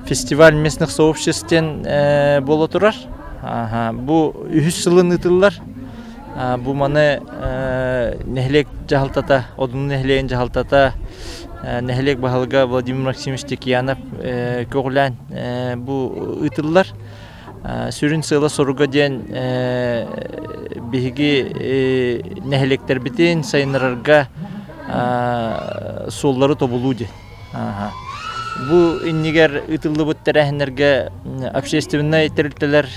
фестиваль местных сообществ диэн буола турар бу үһүс сылын ыытыллар бу маны нэһилиэк дьаһалтата одун нэһилиэгин дьаһалтата нэһилиэк баһылыга владимир максимович текьянов көҕүлээн бу ыытыллар сүрүн сыала-соруга диэн биһиги нэһилиэктэрбитин сайыннарарга суоллары тобулуу диэн Бу иннигэр ыытыллыбыт тэрээһиннэргэ общественнай тэрилтэлэр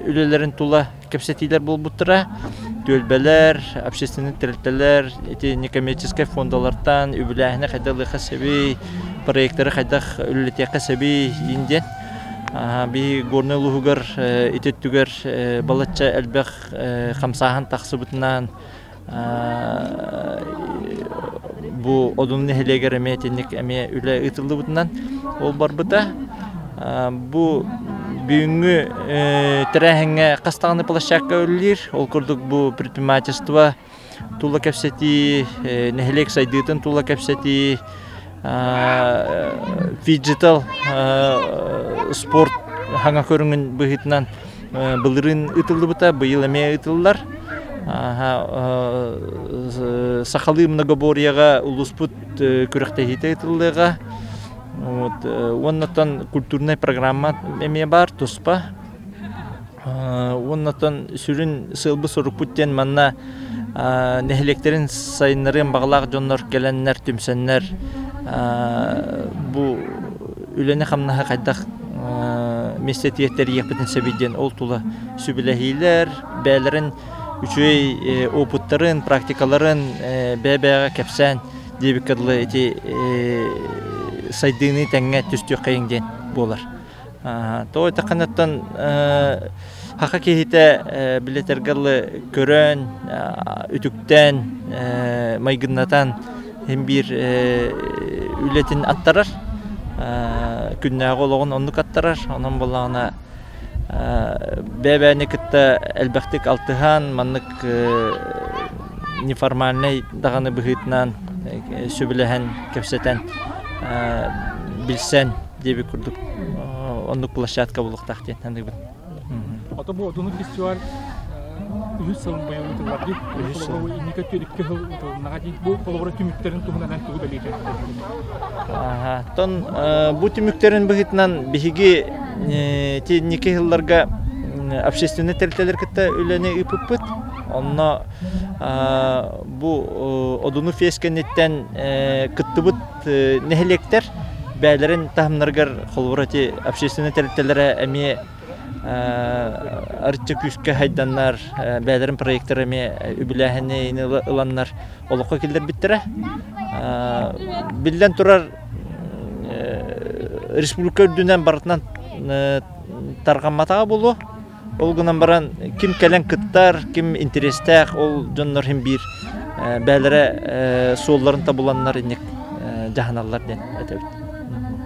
үлэлэрин тула кэпсэтиилэр буолбуттара. Түөлбэлэр, общественнай тэрилтэлэр итини коммерческай фондалартан үбүлээһини хайдах ылыахха сөбүй, проекттары хайдах үлэлэтиэххэ сөбүй диэн диэн. Биһи Горнай улууһугар ити өттүгэр балачча элбэх хамсааһын тахсыбытынан Бу Одун нэһилиэгэр эмиэ итинник эмиэ үлэ ыытыллыбытынан ол барбыта. Бу бүгүҥҥү тэрээһиҥҥэ хас даҕаны площадка үлэлиир. Ол курдук бу предпринимательство тула кэпсэтии, нэһилиэк сайдыытын тула кэпсэтии, фиджитал спорт хаҥа көрүҥүн быһыытынан былырыын ытыллыбыта быйыл эмиэ ытыллар сахалыы многоборьеҕа улууспут күрэхтэһиитэ ытыллыаҕа вот уонна культурнай программа эмиэ баар туспа Уоннатан сүрүн сыалбы-сорукпут диэн манна нэһилиэктэрин сайыннарыан баҕалаах дьоннор кэлэннэр, түмсэннэр бу үлэни-хамнаһы хайдах министиэртийэ тэрийиэхпитин сөбүй диэн ол тула сүбэлэһиилэр, бэйэлэрин үчүгэй опыттарын, практикаларын бэйэ-бэйэҕэ кэпсээн диэбиккэ дылы ити сайдыыны тэҥҥэ түстүөххэйиҥ диэн буолар. Тоҕо эттэххинэттэн саха киһитэ билэтэргэ дылы көрөн, үтүктэн, майгыннатан син биир үлэтин аттарар, күннээҕи олоҕун оннук аттарар. Онон буоллаҕына бэбээни кытта элбэхтик алтыһан, маннык неформальнай даҕаны быһыытынан сөбүлэһэн, кэпсэтэн, билсэн диэбит курдук оннук площадка булуохтаах диэн саныыбын. Ото бу отуну фестиваль үһүс сыл быйыл ыытыллар дии. Үһүс сыл. Инники төрүккэ сыл ыытылыннаҕа дии. Бу холобура түмүктэрин туһунан эн тугу бэлиэтиэн Оттон бу түмүктэрин быһыытынан биһиги инники сылларга общественнай тэрилтэлэр кытта үлэни ыыппыппыт. Онно бу Одуну фест кэнниттэн кыттыбыт нэһилиэктэр бэйэлэрин таһымнарыгар холобур эти общественнай тэрилтэлэрэ эмиэ арычча күүскэ хайданнар бэйэлэрин проектары эмиэ үбүлээһини ыланнар олоххо киллэрбиттэрэ биллэн турар республика үрдүнэн барытынан тарҕамматаҕа буолуо Ол гынан баран ким кэлэн кыттар, ким интэриэстээх ол дьоннор иһин биир бээлэрэ суолларын табуланнар инник дьаһаналлар диэн этэбит.